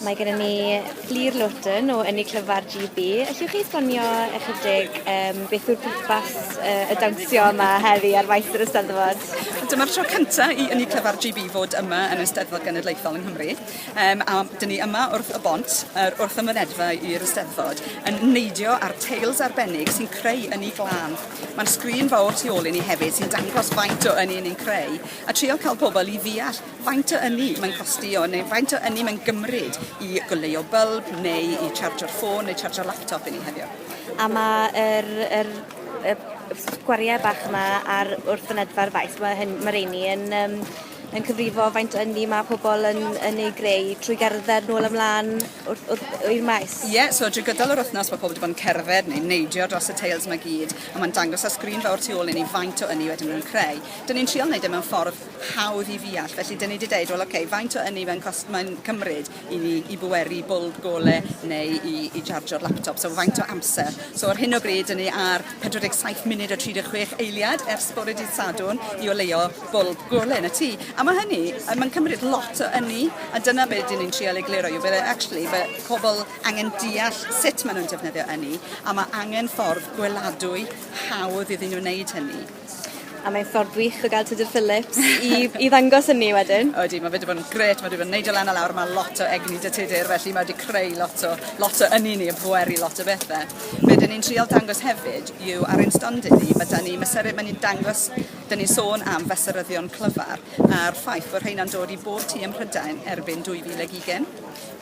Mae gennym ni Lir Lawton o Ynni Clyfar GB. Allwch chi esbonio ychydig um, beth yw'r pwrpas uh, y dawnsio yma heddi ar faes yr Eisteddfod? Dyma'r tro cyntaf i Ynni Clyfar GB fod yma yn Eisteddfod Genedlaethol yng Nghymru. Um, a dyn ni yma wrth y bont, er, wrth y mynedfa i'r Eisteddfod, yn neidio ar tails arbennig sy'n creu ynni glân. Mae'n sgrin fawr tu ôl i ni hefyd sy'n dangos faint o ynni ni'n creu a trial cael pobl i ddeall Faint o ynni mae'n costio neu faint o ynni mae'n gymryd i goleuo bylb neu i chargio'r ffôn neu chargio'r laptop i ni heddiw. A mae yr, yr, y gwariau bach yma ar wrth fynedfa'r faes, mae, hyn, mae reini yn, um, yn cyfrifo faint o ynni mae pobl yn, yn ei greu trwy gerdded nôl ymlaen wrth, wrth, i'r maes. Ie, yeah, so drwy gydol yr wythnos mae pobl wedi bod yn cerdded neu neidio dros y teils mae gyd a mae'n dangos ar sgrin fawr tu ôl i ni faint o ynni wedyn nhw'n creu. Dyn ni'n trial wneud e mewn ffordd hawdd i ddeall felly 'dyn ni 'di deud wel oce faint o ynni mae'n cost- mae'n cymryd i ni i bweru bwlb gole neu i i jarjio'r laptop so faint o amser so ar hyn o bryd 'dyn ni ar pedwar deg saith munud a tri deg chwech eiliad ers bore dydd Sadwrn i oleuo bwlb gole yn y tŷ a ma' hynny yy ma'n cymryd lot o ynni a dyna be' 'dyn ni'n trial egluro yw bydde actually by- pobol angen deall sut ma' nw'n defnyddio ynni a ma' angen ffordd gweladwy hawdd iddyn nw wneud hynny. A mae'n ffordd wych o gael Tudur Phillips i i ddangos hynny wedyn. Odi ma' fe 'di bod yn grêt ma' 'di bod yn neidio lan a lawr ma' lot o egni 'da Tudur felly mae 'di creu lot o lot o ynni i ni a pweru lot o bethe. Be' 'dyn ni'n trial dangos hefyd yw ar ein stondin ni ma' 'da ni ma' Sere ma' ni'n dangos 'dyn ni'n sôn am fesuryddion clyfar a'r ffaith bo' rheina'n dod i bob tŷ ym Mhrydain erbyn dwy fil ag ugen.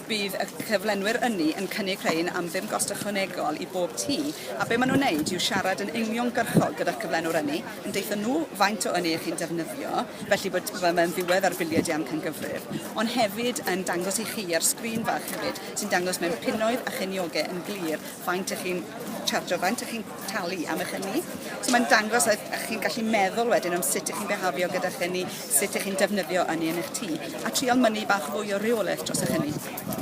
Bydd y cyflenwyr ynni yn cynnig rhain am ddim gost ychwanegol i bob tŷ, a be' ma' nhw'n neud yw siarad yn uniongyrchol gyda'r cyflenwr ynni, yn deutho nhw faint o ynni 'ych chi'n defnyddio, felly bod fel mae'n ddiwedd ar biliau di amcangyfrif, ond hefyd yn dangos i chi ar sgrin fach hefyd sy'n dangos mewn punnoedd a chenioge yn glir faint 'ych chi'n charjio, faint 'ych chi'n talu am eich hynny. So mae'n dangos a, a chi'n gallu meddwl wedyn am sut ych chi'n behafio gyda hynny, sut ych chi'n defnyddio hynny yn eich tŷ, a trial mynnu bach fwy o reolaeth dros eich hynny.